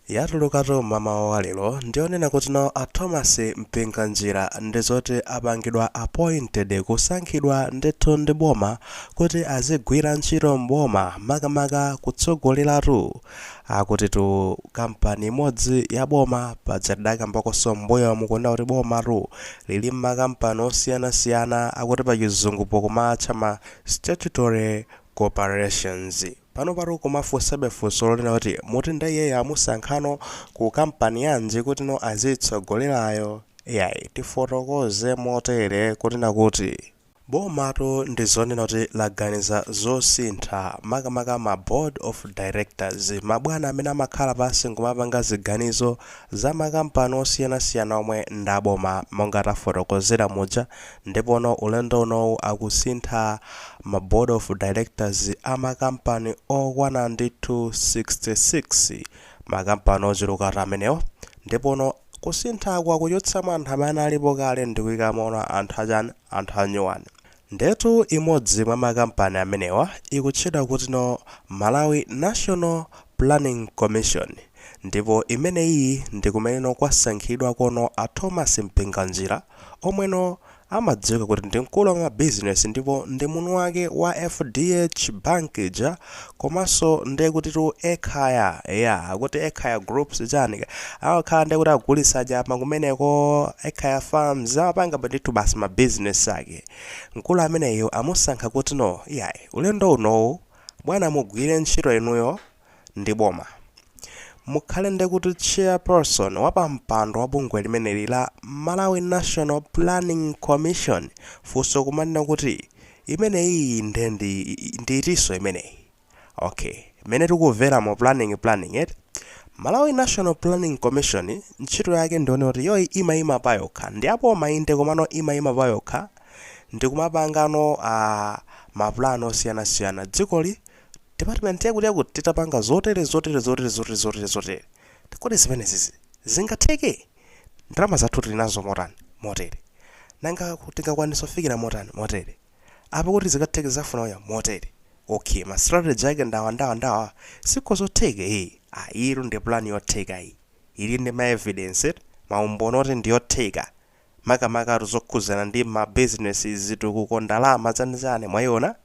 Yatulukatu mmamawa wa lero ndiyonena kuti no a Thomas Mpinganjira ndizoti apangidwa appointed, kusankhidwa ndithu ndi boma kuti azigwira ntchito m'boma makamaka kutsogolelatu akutitu kampani imodzi ya boma paja tidakambakonso m'mbuyomu kunena kuti bomatu lili nmakampani osiyanasiyana akuti pachizungupo kumaatcha ma statutory corporations. Panopatu kumafunsabe funso lonena kuti muti nde iyeyo amusankhano ku kampani yanji kutino aziyitsogolelayo? Iyayi tifotokoze motere kunena kuti bomatu ndizonena kuti laganiza zosintha makamaka ma board of directors, mabwana amene amakhala pansi nkumapanga ziganizo za makampani osiyanasiyana omwe ndaboma monga tafotokozera muja Ndipono ulendo unowu akusintha ma board of directors a makampani okwana ndithu 66, makampani ochulukatu amenewo, ndipono kusinthaku akuchotsamo anthu amene analipo kale ndikuikamono anthu achani, anthu anyuwani. Ndiyetu imodzi mwa makampani amenewa ikutchedwa kutino Malawi National Planning Commission ndipo imeneyiyi ndikumeneno kwasankhidwakono a Thomas Mpinganjira, omweno amadziwika kuti ndi mkulu wa mabizinesi ndipo ndi mwini wake wa FDH Bank ija komanso nde kutitu Ekhaya eya akuti Ekhaya groups chani kaya amakhala nde kuti akugulitsa nyama kumeneko Ekhaya farms amapangaba ndithu basi ma business ake mkulu ameneyu amusankha kuti no iyayi ulendo unowu bwana mugwire ntchito inuyo ndi boma. Mukhale ndekuti chairperson wapampando wa bungwe limeneli la Malawi National Planning Commission funso kumanena kuti imeneyiyi nde ndi ndi itinso imeneyi? Ok mmene tikuveramu planning planning eti? Malawi National Planning Commission ntchito yake ndiyonena kuti iyoyi imaima payokha ndi yaboma inde komano imaima payokha ndikumapangano aah ma plan osiyanasiyana dzikoli Department yakuti yakuti titapanga zotere zotere zotere zotere zotere zotere. Kodi zimenezizi zingatheke? Ndalama zathu tili nazo motani? Motere. Nanga ku- tingakwanitse kufikira motani? Motere. Apa kuti zikatheke zafuna uya motere. Okay, ma strategy ake ndawa ndawa ndawa. Siko zotheka eh. Ah, iyitu ndi plan yotheka iyi. Ili ndi ma evidence, eti, maumboni oti ndi yotheka. makamakatu zokhuzana ndi ma business zitukuko ndalama zanizani mwayiona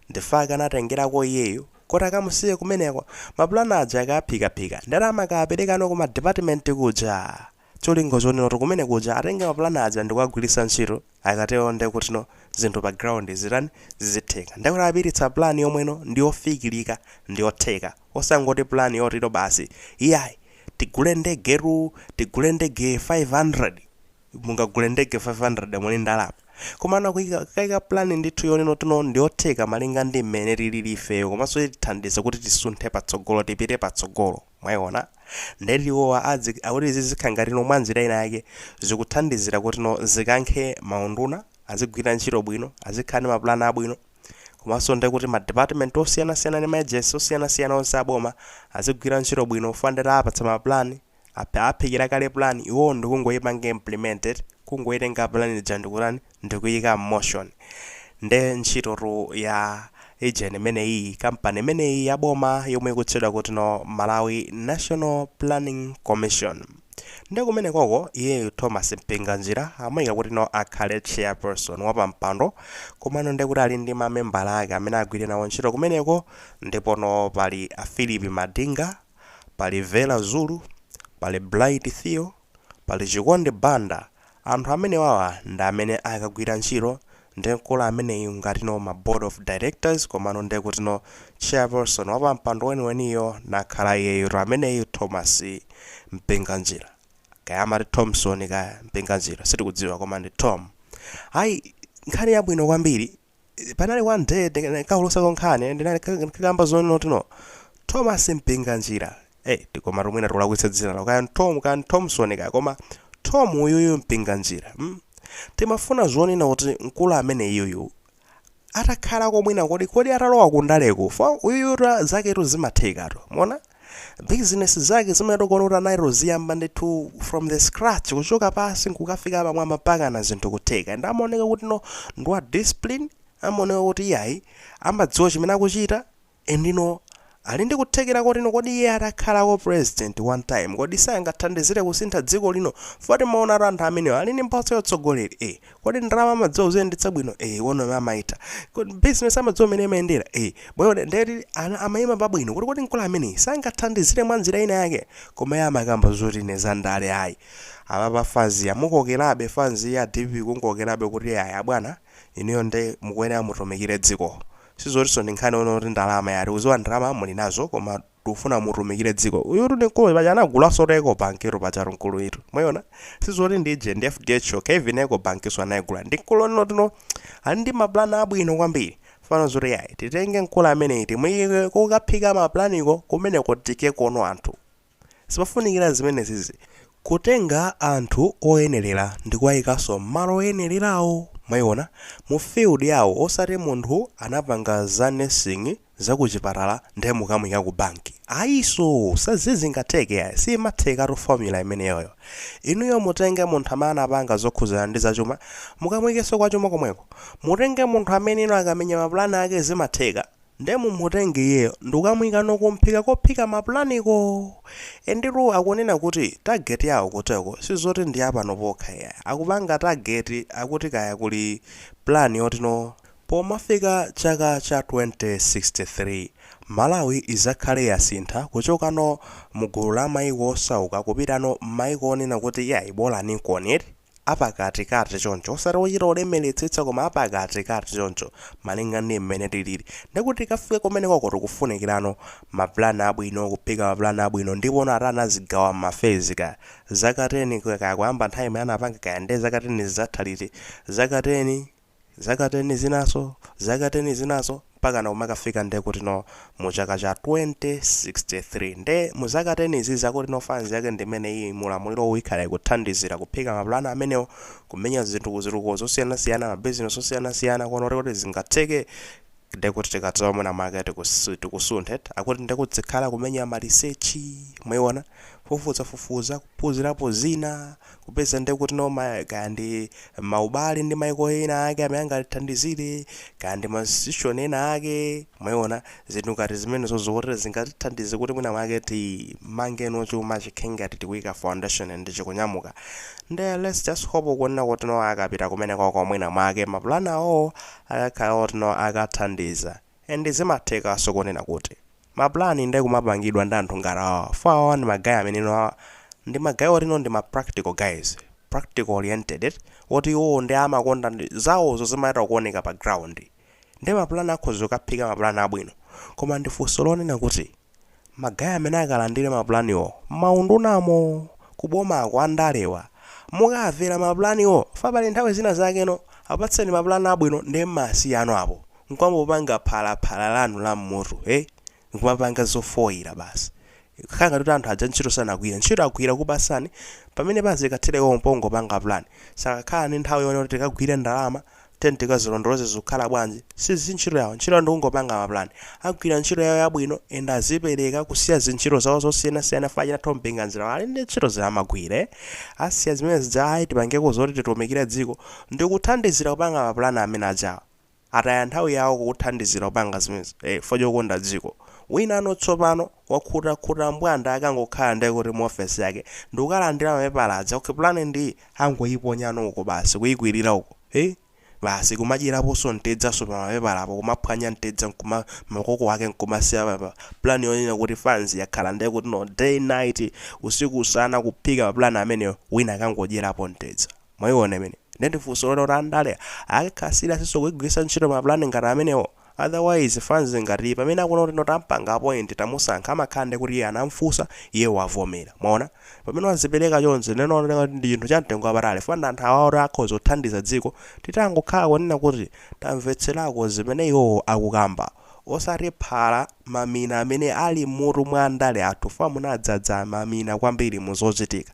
nde akatengerako iyeyu kuti akamusiye kumeneko ma plan aja akaphikaphika nde amakaperekano kuma department kuja cholinga chonenoti kumene kuja atenge ma plan aja ndikuwagwiritsa ntchito akatero nde kuti no zinthu pa ground zitani zizitheka ndekuti apititsa plan yomweno ndiyofikirika ndiyotheka osangoti plan yoti no basi iyayi tigule ndegetu tigule ndege 500 mungagule ndege 500 muli ndalama komano kuika plan ndithu yonena kuti no ndiyotheka malinga ndi mmene tilili ifeyo komanso itithandize kuti tisunthe patsogolo tipite patsogolo mwayiona ndeti iwowa akuti izi zikhala ngati no mwanjira ina yake zikuthandizira kuti no zikankhe maunduna azigwira ntchito bwino azikhala ndi mapulani abwino Komanso ndi kuti ma department osiyanasiyana ndi ma agency osiyanasiyana onse a boma azigwira ntchito bwino chifukwa ndiye awapatsa ma plan, aphikira kale plan, iwowo ndi kungoipanga implement eti, kungoitenga plan ija ndi kutani, ndi kuiika m'motion. Nde ntchitotu ya agent imeneyiyi, kampani imeneyi ya boma yomwe ikutchedwa kuti no Malawi National Planning Commission. Nde kumenekoko iyeyu Thomas Mpinganjira amuika kutino akhale chairperson, wapampando, komano ndekuti ali ndi ma membala ake amene agwire nawo ntchito kumeneko ndipono pali a Phillip Madinga, pali Vera Zulu, pali Bright Theu, pali Chikondi Banda Anthu amenewawa ndi amene akagwira ntchito ndi mkulu ameneyu ngatino ma board of directors komano ndekutino chairperson wapampando weniweniyo nakhala iyeyutu ameneyu Thomas Mpinganjira kaya amati Thomson kaya Mpinganjira sitikudziwa koma ndi Thom ayi nkhani yabwino kwambiri panali one day ndikuulutsako nkhani ndinaikakamba zonena kuti no thomas mpinganjira eh ati koma mwina tikulakwitsa dzina lawo kaya tom kaya thomson kaya koma tom uyuyu mpinganjira mm? timafuna zonena kuti mkulu ameneyuyu atakhalako mwina kodi kodi atalowa kundaleko fo uyuyutu zaketu zimathekatu mona business zake zimene tikuona kuti anazitoziyamba ndithu from the scratch kuchoka pasi nkukafika pamwamba mpakana zinthu kutheka and amaoneka kuti no ndi wa discipline amaoneka kuti iyayi amadziwa chimene akuchita and no ali ndi kuthekera kotino kodi iye atakhalako president one time kodi sangathandizire kusintha dziko lino foti maona ati anthu amenewo ali ndi mphatso yotsogoleri e kodi ndalama amadziwa kuziyendetsa bwino eh one amene amaitha kodi business amadziwa mmene imayendera eh bwino ndeti amayima pabwino kuti kodi mkulu ameneyi sangathandizire mwa njira ina yake koma iye amakamba zoti ine za ndale ayi apapa fanzi yamukokerabe fanzi ya dpp kumukokerabe kuti ayi abwana inuyo nde mukuyenera mutumikire dziko sizotinso ndi nkhani yonena kuti ndalama ayi tikudziwa ndalama muli nazo koma tikufuna mutumikire dziko uyutu ndi mkulu paja anagulanso eco bank tu pajatu mkuluyitu mwayiona sizoti ndi ije ndi fdh yokha even eco bankinso anayigula ndi mkulu wotino ali ndi mapulani abwino kwambiri fano zoti yayi titenge mkulu ameneyi timuyike kukaphika mapulaniko kumeneko tiikeko no anthu zifunikira zimenezizi kutenga anthu oyenerera ndi kuwayikanso m'malo oyenererawo mwayiona mu field yawo osati munthu anapanga za nursing zakuchipatala nde mukamuika ku bank ayiso sizingatheke ai simathekatu formula imeneyoyo inuyo mutenge munthu amene anapanga zokhuzana ndi zachuma mukamuikeso kwa chuma komweko mutenge munthu amene inu akamenya ma plan ake zimatheka nde mumutenge iyeyo ndikukamuika no kumphika kophika ma plan ko enditu akunena kuti target yawo kuteko sizoti ndi ya pano pokha ai akupanga target akuti kaya kuli plan yoti no Pomafika chaka cha 2063, Malawi izakhale yasintha kuchokano mu gulu la maiko osauka kupitano mmaiko onena kuti iyayi bolanikoni eti, apakati kati choncho, osati ochita kulemeletsetsa koma apakati kati choncho malinga ndi mmene tilili. Ndekuti tikafike kumenekoko tikufunikirano ma plan abwino, kuphika ma plan abwino ndipono ati anazigawa mma phase kaya zaka 10 kaya kuyamba nthawi imene anapanga kaya nde zaka 10 zizatha liti, zaka 10, zaka teni zinanso, zaka teni zinanso, mpakana kumakafika nde kuti no mu chaka cha 2063. Nde mu zaka teni izi zakuti no phase yake ndi imeneyiyi, mu ulamuliro uwu ikhala ikuthandizira kuphika ma pulani amenewo, kumenya zinthu ku zitukuko zosiyanasiyana, ma bizinesi osiyanasiyana, kuona kuti kodi zingatheke, nde kuti tikadzalowa mwina mwake tikus tikusunthe eti, akuti nde kudzikhala kumenya ma research, mwaiona, kufufuzafufuza, kuphunzirapo zina, Kupeza nde kuti no kaya ndi maubale ndi maiko ena ake amene angatithandizire, kaya ndi ma institution ena ake, mwaiona, zinthu ngati zimenezo zokuti zingatithandize kuti mwina mwake timangeno chuma chikhale ngati tikuika foundation ndi chikunyamuka. Nde let's just hope kunena kuti no akapita kumenekoko mwina mwake maplan awowo akakhala oti no akathandiza. And zimathekaso kunena kuti ma plan nde kumapangidwa ndi anthu ngati awawa chifukwa awawa ndi ma guy amene no awa ndi ma guy oti no ndi ma practical guys, practical oriented eti, oti iwowo nde amakonda ndi, zawozo zimayita kuoneka pa ground nde ma plan akhoza kukaphika ma plan abwino koma ndi funso lonena kuti. ma guy amene akalandile ma plan wo mma undunamo, ku bomako andalewa mukamvera ma plan wo chifukwa pali nthawi zina zake no apatseni ma plan abwino nde mmawasiyano apo nkumangopanga phala phala lanu la mmutu hey nkumapanga zofoila basi kukhala ngati kuti anthu aja ntchito sanagwire ntchito agwira kukupasani pamene pazikathera pompo pongopanga plan sakakhala ndi nthawi yoona kuti tikagwire ndalama Tiyeni tikazilondoloze zikukhala bwanji. Sizi ntchito yawo. Ntchito yawo ndikungopanga ma plan. Agwira ntchito yawo yabwino and azipereka kusiya zintchito zawo zosiyanasiyana chifukwa achina Thom Mpinganjira ali ndi ntchito zamagwire. Asiya zimene zija ayi tipangeko zoti titumikire dziko ndikuthandizira kupanga ma plan amene ajawa. Ataya nthawi yawo kukuthandizira kupanga zimenezi chifukwa chokonda dziko. Winano tsopano. Wakhutakhuta mbwanda akangokhala nde kuti mu office yake ndikukalandira mapepala aja okay plan ndi iyi angoyiponyano uko basi kuyikwilira uko hee basi kumadyeraponso mtedzanso pa mapepalapo kumaphwanya mtedza nkuma makoko ake nkumasiya pa pa plan yonena kuti fanz yakhala nde kuti no day night usiku usana kuphika ma plan amenewo wina akangodyerapo mtedza mwayiona imeneyo nde ndi funso loti andale akakhala seriousnso kugwiritsa ntchito ma plan ngati amenewo otherwise fanz ngati iyi pamene akuona kuti no tampanga appoint tamusankha amakhala nde kuti iye anamfunsa iye wavomera mwaona pamene wazipereka chonchi nde ndi chinthu cha mtengo wapatali fwa ndi anthu awawa oti akhoza kuthandiza dziko titangokhala kunena kuti tamvetserako zimene iwowo akukamba osati phala mamina amene ali mmutu mwa andale athu fwa munadzadza mamina kwambiri mu zochitika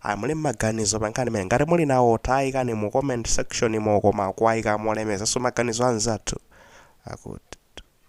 Ayi muli ndi maganizo pankhani imene ngati muli nawo tayikani mu comment section mo koma kuwayika molemekezaso maganizo anzathu akut